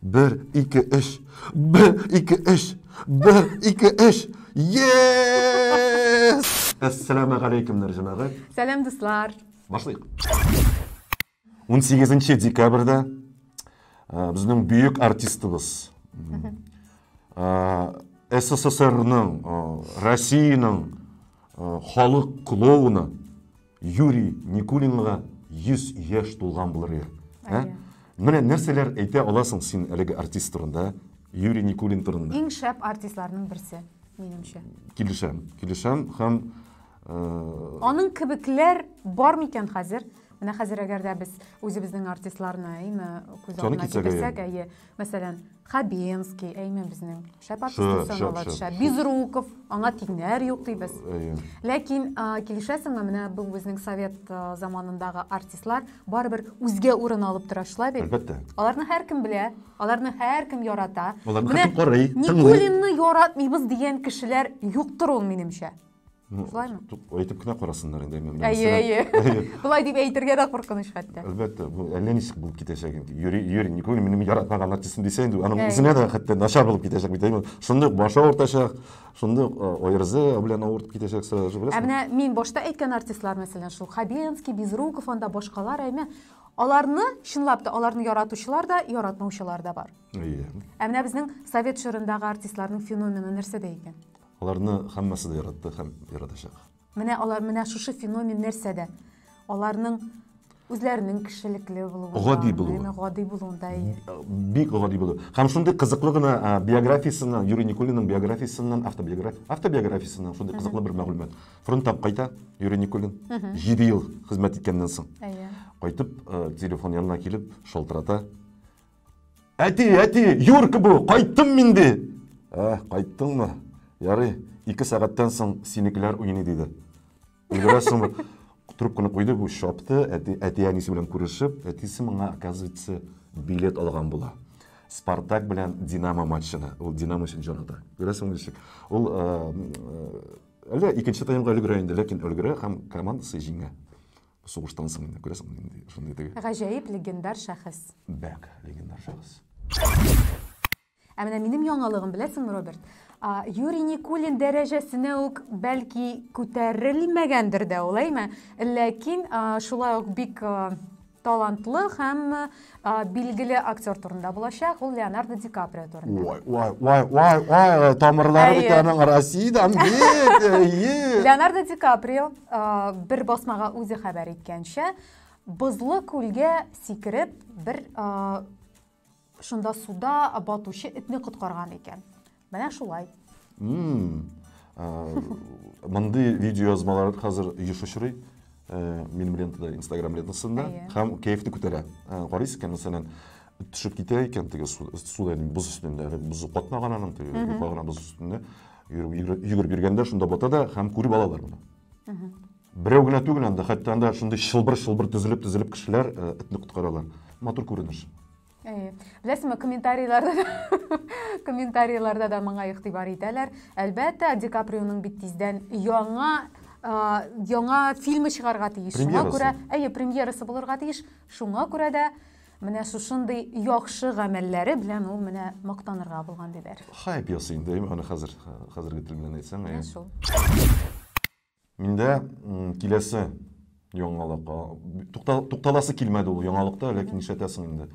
Бер, ике, өч. Бер, ике, өч. Бер, ике, өч. Yes! Әссәламә галәйкемнәр, җәмәгать. Сәлам, дуслар. Башлыйк. 18 декабрьдә э, безнең бөек артистыбыз э, СССРның, э, Россиянең халык клоуны Юрий Никулинга 100 яшь тулган булыр ел. Ә? Менә нәрсәләр әйтә аласың син әлеге артист турында, Юрий Никулин турында? Иң шәп артистларның берсе, минемчә. Килешәм, килешәм һәм э, Аның кебекләр бар микән хәзер? Менә хәзер әгәр дә без үзебезнең артистларны әйме күз Саны алдына китерсәк, китерсәк, әйе, мәсәлән, Хабенский, әйме безнең. Шәп артист икән ул төшә. Безруков, аңа тиңнәр юк дибез. Әйе. Ләкин килешәсеңме, менә бу безнең совет заманындагы артистлар барыбер үзгә урын алып тора шулай бит? Әлбәттә. Аларны һәркем белә, аларны һәркем ярата. Аларны һәркем карый, тыңлый. Никулинны яратмыйбыз дигән кешеләр юктыр ул, минемчә. Ну, Шулаймы? Тук, әйтеп кенә карасыннар инде. Мен, әйе, әйе. Болай дип әйтергә дә куркыныч хәтта. Әлбәттә, бу әллә ничек булып китәчәк инде. Йөри, йөри, не күрмим, минем яратмаган артистым дисә инде, аның үзенә дә хәтта начар булып китәчәк бит. Әйе, шундый башы авыртачак, шундый ойрзы белән авыртып китәчәк сразу же, беләсең? Ә менә мин башта әйткән артистлар, мәсәлән, шул Хабенский, Безруков, анда башкалар, әйме, аларны чынлап та аларны яратучылар да яратмаучылар да бар әйе ә менә безнең совет чорындагы артистларның феномены нәрсәдә икән Аларны хаммасы да яратты хам яратачак. Менә алар менә шушы феномен нәрсәдә? Аларның үзләренең кешелекле булуында, гади булуы, гади булуында бик гади булу. Һәм шундый кызыклы гына биографиясеннән, Юрий Никулинның биографиясеннән, автобиография, автобиографиясеннән шундый кызыклы бер мәгълүмат. Фронттан кайта Юрий Никулин. 7 ел хезмәт иткәннән соң. Кайтып, телефон янына килеп, шалтырата. Әти, әти, Юрка бу, кайттым мин ди. Ә, кайттыңмы? Ярый, ике сәгатьтән соң синекеләр уйный диде. Өлгерәсеңме? Трубканы куйды бу шапты, әти, әти әнисе белән күрешеп, әтисе моңа, оказывается, билет алган була. Спартак белән Динамо матчына. Ул Динамо өчен җанаты. Күрәсең ничек? Ул әллә икенче таймга өлгерә инде, ләкин өлгерә һәм командасы җиңә. Сугыштан соң инде күрәсең нинди шундый теге. Гаҗәеп легендар шәхес. Бәк легендар шәхес. Ә менә минем яңалыгым, беләсеңме, Роберт? Юрий Никулин дәрәҗәсенә үк бәлки күтәрелмәгәндер дә ул, әйме? Ләкин шулай ук бик талантлы һәм А, билгеле актер турында булачак, ул Леонардо Ди Каприо турында. Ой, ой, ой, ой, ой, тамырлары Әйе. бит аның Россиядән бит. Әйе. Леонардо Ди Каприо а, бер басмага үзе хәбәр иткәнчә, бозлы күлгә сикереп, бер а, шунда суда батучы этне коткарган икән. Менә шулай. Мондый видеоязмалар хәзер еш очрый. Минем лентада, Instagram лентасында. Һәм кәефне күтәрә. Карыйсыз икән, мәсәлән, төшеп китә икән теге суда, боз өстендә, боз катмаган аның, теге юка гына боз өстендә. Йөгереп йөргәндә шунда бата да һәм күреп алалар моны. Берәү генә түгел анда, хәтта анда шундый чылбыр-чылбыр тезелеп-тезелеп кешеләр этне коткаралар. Матур күренеш. Әйе. Беләсеңме, комментарийларда да комментарийларда да моңа игътибар итәләр. Әлбәттә, Ди Каприоның бит тиздән яңа яңа фильмы чыгарга тиеш. Шуңа күрә, әйе, премьерасы булырга тиеш. Шуңа күрә дә менә шушындый яхшы гамәлләре белән ул менә мактанырга булган диләр. Хайп ясый инде, аны хәзер хәзерге тел белән әйтсәң, әйе. Шул. Миндә киләсе яңалык. Тукталасы килмәде ул яңалыкта, ләкин нишләтәсең инде.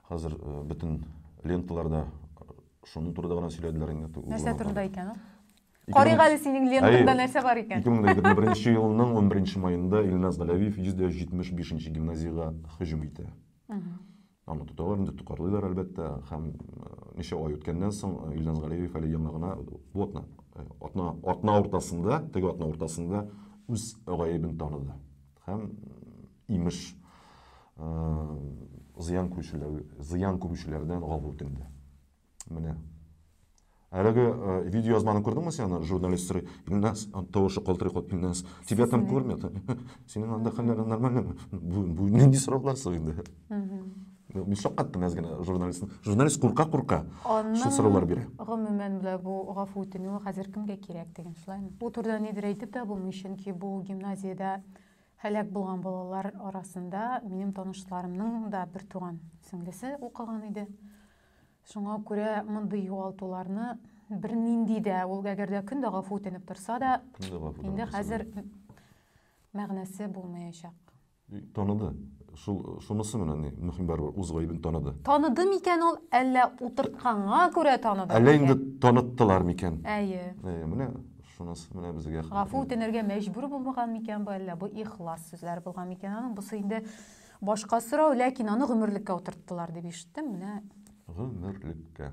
Хәзер бөтен ленталарда шуның турында гына сөйләделәр инде. Нәрсә турында икән ул? Карыйк әле синең лентаңда нәрсә бар икән. 2021 елның 11 маенда Илназ Галәвиев 175 нче гимназиягә һөҗүм итә. Аны тоталар инде, токарлыйлар, әлбәттә, һәм ничә ай үткәннән соң Илназ Галиев әле яңа гына бу атна атна атна уртасында, теге атна уртасында үз гаебен таныды. Һәм имеш зыян күрүчеләр зыян күрүчеләрдән гафу үтенде. Менә. Әлеге э, видеоязманы күрдеңме сен аны журналист сорый? Илназ, тавышы калтырый калып, Илназ, тебя там кормят? Синең анда хәлләрең нормальныймы? Бу, бу нинди сораулар соң инде? Мин шаккаттым әз генә журналистны. Журналист курка-курка шул сораулар бирә. Гомумән белә бу гафу үтенү хәзер кемгә кирәк дигән шулаймы? Бу турыда нидер әйтеп тә булмый, чөнки бу гимназиядә һәлак булган балалар арасында минем танышларымның да бер туган сеңлесе укыган иде. Шуңа күрә мондый югалтуларны бернинди дә, ул әгәр дә көн дә гафу үтенеп торса да, инде хәзер мәгънәсе булмаячак. Таныды. Шул шунысы менә ни мөһим барыбер үз гаебен таныды. Таныды микән ул, әллә утыртканга күрә таныды? Әллә инде таныттылар микән? Әйе. Әйе, менә шунысы менә безгә. Гафу үтенергә мәҗбүр булмаган микән бу, әллә бу ихлас сүзләр булган микән аның? Бусы инде Башка сорау, ләкин аны гомерлеккә утырттылар дип ишеттем, менә. Гомерлеккә.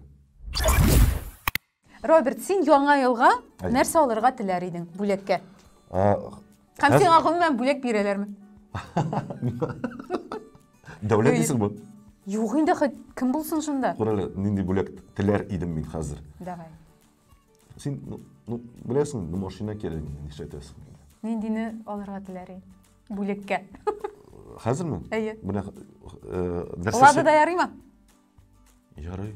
Роберт, син яңа елга Әй. нәрсә алырга теләр идең бүләккә? А, Һәм хәз- сиңа гомумән бүләк бирәләрме? Дәүләт Ой. дисең бу? Юк инде, хоть кем булсын шунда. Күр әле, нинди бүләк теләр идем мин хәзер. Давай. Син, ну, ну беләсең, ну, машина кирәк, нишләтәсең? Ниндине алырга теләр идең? Бүлеккә. Хәзерме? Әйе. Менә нәрсә? Лада да ярыймы? Ярый.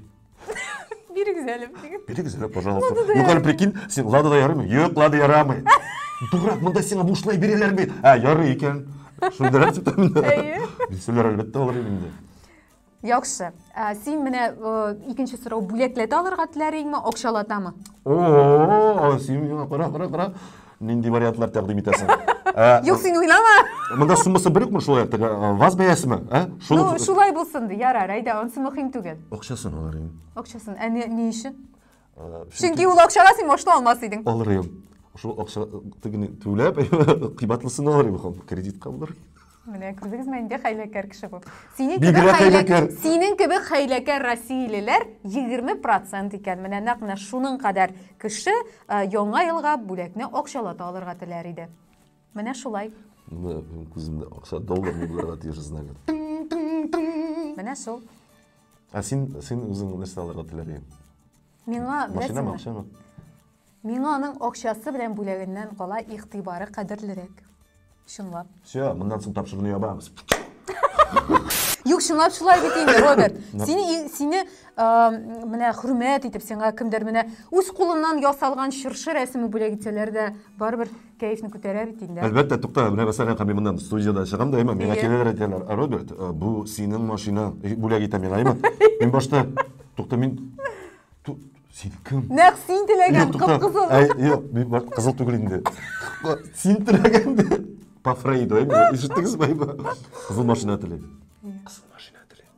Бирегез әле. Бирегез әле, пожалуйста. Ну, хәл прикинь, син Лада да ярыймы? Юк, Лада ярамый. Дурак, монда сиңа бушлай бирәләр бит. Ә, ярый икән. Шундыйрак сүтәмендә. Әйе. Дисәләр, әлбәттә, алыр инде. Яхшы. Ә, син менә э, икенче сорау бүләкләтә алырга теләриеңме, акчалатамы? О, син миңа кара, кара, кара. Нинди вариантлар тәкъдим итәсең? Ә, Юк, син уйлама. Монда суммасы бер үкме шулай теге ә, ваз бәясеме? Ә? Ну, Шуны шулай булсын ди. Ярар, әйдә, онсы мөһим түгел. акчасын алар инде. Акчасын. Ә не, не өчен? Чөнки ул акчага син машина алмас идең. Алыр идем. Шул акча тегене түләп, кыйбатлысын алыр идем. Кредитка булыр. Менә күрдегезме, инде хәйләкәр кеше бу. Синең кебек хәйләкәр. Синең кебек хәйләкәр россиялеләр 20% икән. Менә нәкъ менә шуның кадәр кеше э, яңа елга бүләкне акчалата алырга теләр иде. Менә шулай. Менә күземдә акча доллар булырга тиеш знагы. Менә шул. Ә син, син үзең нәрсә алырга теләр идең? Миңа, Машинамы, акчамы? Миңа аның акчасы белән бүләгеннән кала игътибары кадерлерәк. Чынлап. Все, моннан соң тапшыруны ябабыз. Юк, чынлап шулай бит инде, Роберт. Сине сине менә хөрмәт итеп, сиңа кемдер менә үз кулыннан ясалган чыршы рәсеме бүләк итсәләр дә, барыбер Кәефне күтәрә бит инде. Әлбәттә, тукта, менә мәсәлән, һәм мин моннан студиядә чыгам да, имам, миңа киләләр әйтәләр, Роберт, э, бу синең машина, э, бүләк итә миңа, имам. Мин башта, тукта, мин Син кем? Нәк син теләгән кып-кызыл. Ә, юк, мин кызыл түгел инде. Син теләгән ди. По Фрейду, әйме? Ишеттегез бай ба? Кызыл машина теләйм. Кызыл машина теләйм.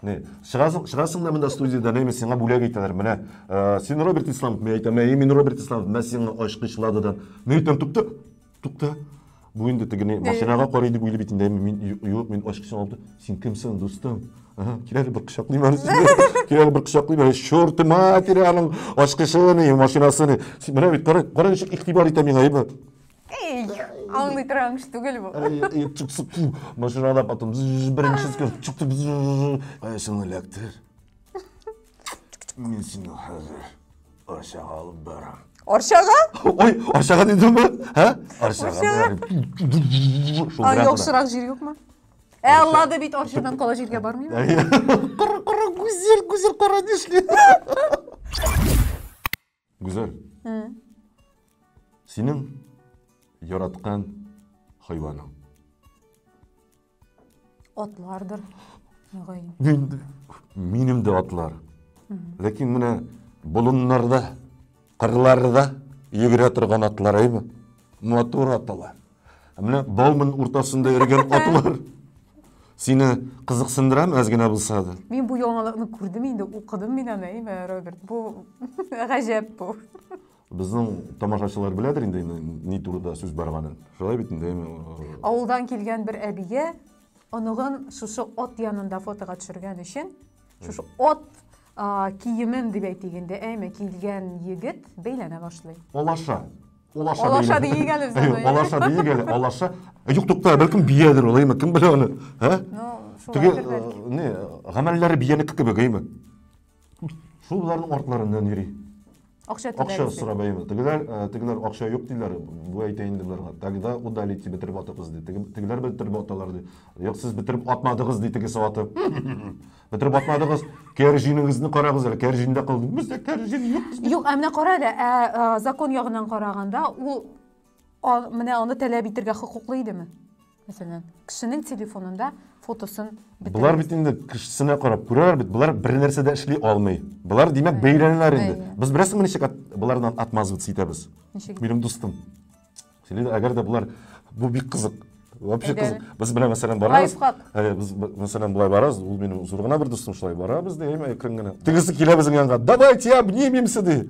Не, чыгасың, чыгасың да монда студиядә, не, сиңа бүләк итәләр, менә, э, син Роберт Исламов, мен әйтәм, әй, мин Роберт Исламов, мен сиңа ачкычладыдан. Мен әйтәм, тукта, тукта. Бу инде теге не, машинага карый дип уйлый бит инде, мин, юк, мин ачкычын алып, син кемсең, дустым? Ага, кирәле бер кочаклыйм әле сине. Кирәле бер кочаклыйм әле, чорты матери аның ачкычын, машинасын. Менә бит, кара, кара ничек игътибар итә миңа, әйбәт. Эй, аңлый торган кеше түгел бу. Машинада потом беренче скорость. Кайсын эләктер. Мин сине хәзер Арчага алып барам. Арчага? Ой, Арчага дидем ба? Ха? Арчага барам. А, яхшырак җир юкмы? Ә Алла да бит Арчадан кала җиргә бармыймы? Кара, кара, гүзәл, гүзәл кара дишли. Гүзәл. Синең яраткан хайваның. Атлардыр. Мөгаен. Инде минем дә атлар. Ләкин менә болыннарда, кырларда йөгерә торган атлар әйме? Матур аталар. Ә менә Бауман уртасында йөргән атлар сине кызыксындырам әз генә булса да. Мин бу яңалыкны күрдем инде, укыдым мин аны, әйме, Роберт. Бу гаҗәп бу. Безнең тамашачылар беләдер инде ни турыда сүз барганын. Шулай бит инде. Авылдан килгән бер әбигә оныгын шушы ат янында фотога төшергән өчен, шушы ат киемем дип әйтик инде әйме килгән егет бәйләнә башлый алаша алаша алаша дейік әлі біз алаша дейік әлі алаша юк тукта бәлкем биядер ул әйме кем белә аны ә теге не гамәлләре биянеке кебек әйме шул боларның артларыннан йөри Акча түләрбез. Акча сорап әйбер. Тегеләр, э, тегеләр акча юк диләр, бу әйтә инде боларга. Тогда удалить дип бетереп атыгыз ди. Тегеләр бетереп аталар ди. Юк, сез бетереп атмадыгыз ди тегесе атып. Бетереп атмадыгыз. Кәр җинегезне карагыз әле. Кәр җиндә калды. Бездә кәр җин юк. Юк, ә менә кара әле, ә э, закон ягыннан караганда, ул менә аны таләп итәргә хокуклы идеме? Мәсәлән, кешенең телефонында фотосын бетерегез. Болар бит инде кешесенә карап күрәләр бит, болар бер нәрсә дә эшли алмый. Болар димәк бәйләнәләр инде. Без беләсеңме ничек от, болардан отмазываться итәбез? Ничек? Минем дустым. Сөйләде, әгәр дә болар бу бик кызык. Вообще кызык. Без белән мәсәлән барабыз. Лайфхак. Ә, без мәсәлән болай барабыз, ул минем зур гына бер дустым шулай барабыз ди, әкрен генә. Тегесе килә безнең янга. Давайте обнимемся ди.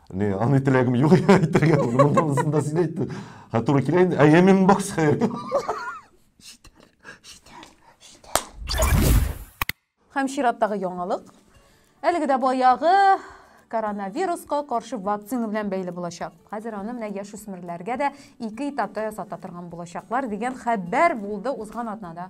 Не, аны теләгем юк әйтергә. Мондасын да син әйтте. Ха туры килә инде. Әйе, мин бокс хәер. Һәм чираттагы яңалык. Әлеге дә баягы коронавируска каршы вакцина белән бәйле булачак. Хәзер аны менә яшүсмерләргә дә ике этапта ясата торган булачаклар дигән хәбәр булды узган атнада.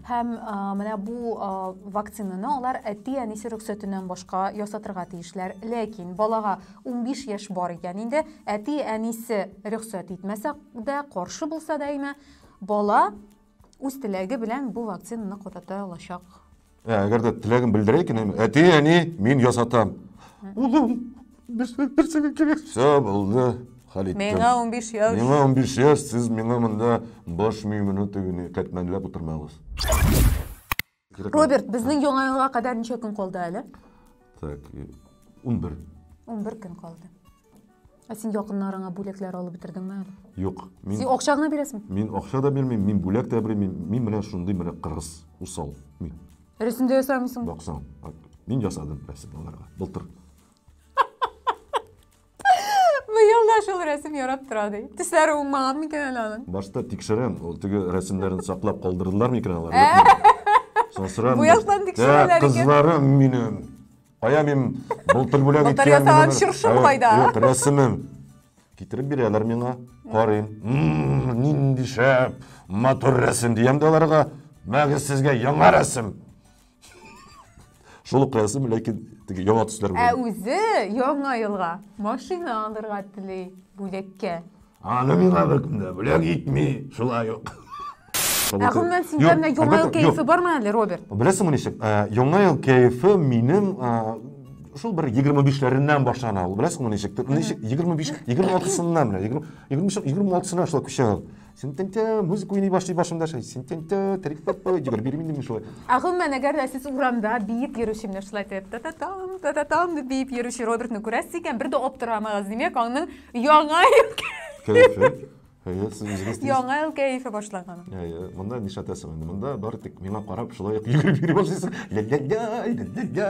Һәм менә бу вакцинаны алар әти-әнисе рөхсәтеннән башка ясатырга тиешләр. Ләкин балага 15 яшь бар икән инде, әти-әнисе рөхсәт итмәсә дә, каршы булса да әйме, бала үз теләге белән бу вакцинаны кадата алачак. Ә, әгәр дә теләген белдерә икән, әти, әни, мин ясатам. Улым, Все, булды, Халит. Миңа 15 яш. Миңа 15 яш, сез миңа монда баш миемне тегене кәтмәнләп утырмагыз. Роберт, безнең яңа елга кадәр ничә көн калды әле? Так, 11. 11 көн калды. Ә син якыннарыңа бүләкләр алып бетердеңме әле? Юк. Мин... Син акча гына бирәсең? Мин акча да бирмим, мин бүләк тә бирмим. Мин менә шундый менә кыргыз, усал. Мин. Рәсемдә ясамыйсың? Баксаң, мин ясадым рәсем аларга. Былтыр. Быел да шул рәсем ярап тора ди. Төсләре уңмаган микән әле аның? Башта тикшерәм, ул теге рәсемнәрен саклап калдырдылар микән алар? Соң сорам. Буяктан тикшерәләр икән. Кызларым минем. Кая мин былтыр бүләк иткән. Былтыр ясаган чыршым кайда? Юк, рәсемем. Китереп бирәләр миңа. Карыйм. Нинди шәп, матур рәсем диям дә аларга. Мәгез сезгә яңа рәсем. Шул ук язым, ләкин теге яңа төсләр Ә белән. үзе яңа елга машина алырга тели бүләккә. Аны миңа беркемдә бүләк итми, шулай ук. Ә гомумән синдә Юк, менә яңа ел әлбәттә, юк. кәефе бармы әле, Роберт? Беләсеңме ничек? Ә, Яңа ел кәефе минем ә, шул бер 25-ләреннән башлана ул. Беләсеңме ничек? Ничек 25, 26-сыннан менә, 20, 25, 26-сына шулай күчә ул. Сентенте музыка уйный башлый башымда шулай. Сентенте трикпеппе йөгереп йөрим инде мин шулай. Ә гомумән, әгәр дә сез урамда биеп йөрүче менә шулай итеп та-та-там, та-та-там дип биеп йөрүче Робертны күрәсез икән, бер дә аптырамагыз, димәк, аның яңа ел Кәефе. Әйе, сез үзегез дисез. яңа ел кәефе башлаган. Әйе, монда нишләтәсең инде? Монда бары тик миңа карап шулай ук йөгереп йөри башлыйсың. Ля-ля-ля, ля-ля-ля.